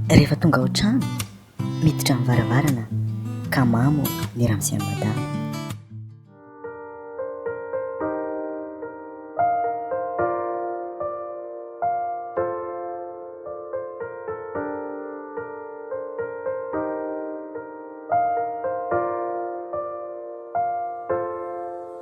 Rehefa tonga ao trano, miditra amin'ny varavarana ka mamo ny ramose an'i madama.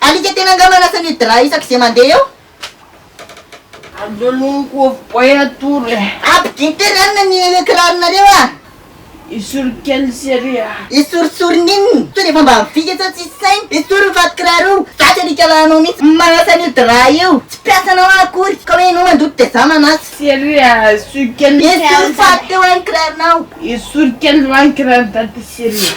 Alika tena nga manasa an'io drap isaky ze mande eo? Aleo aloha mikovo boay atory e! Abdy intery anona ny kiraronareo ah! Esory kely sy ery ah! Esorisory n'inona? Sao dia efa mba vita sao tsisy saina? Esory io fatin-kiraro io! Za tsy alika lahinao mihitsy ny manasa an'io drap io! Tsy mpiasanao aho akory ka hoe enao mandoto dia za manasa! Sy ery ah! Esory kely sy anona! Esory faty teo ah ny kiraronao! Esory kely va ny kiraron'i Dada sy ery ah!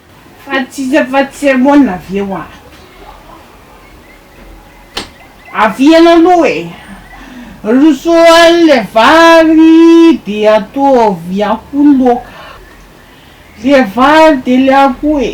Fa tsy iza fa tsy Hermona avy eo ato. Avihana aloha e! Roso any le vary de ataovy akoho loaka. Le vary de le akoho e!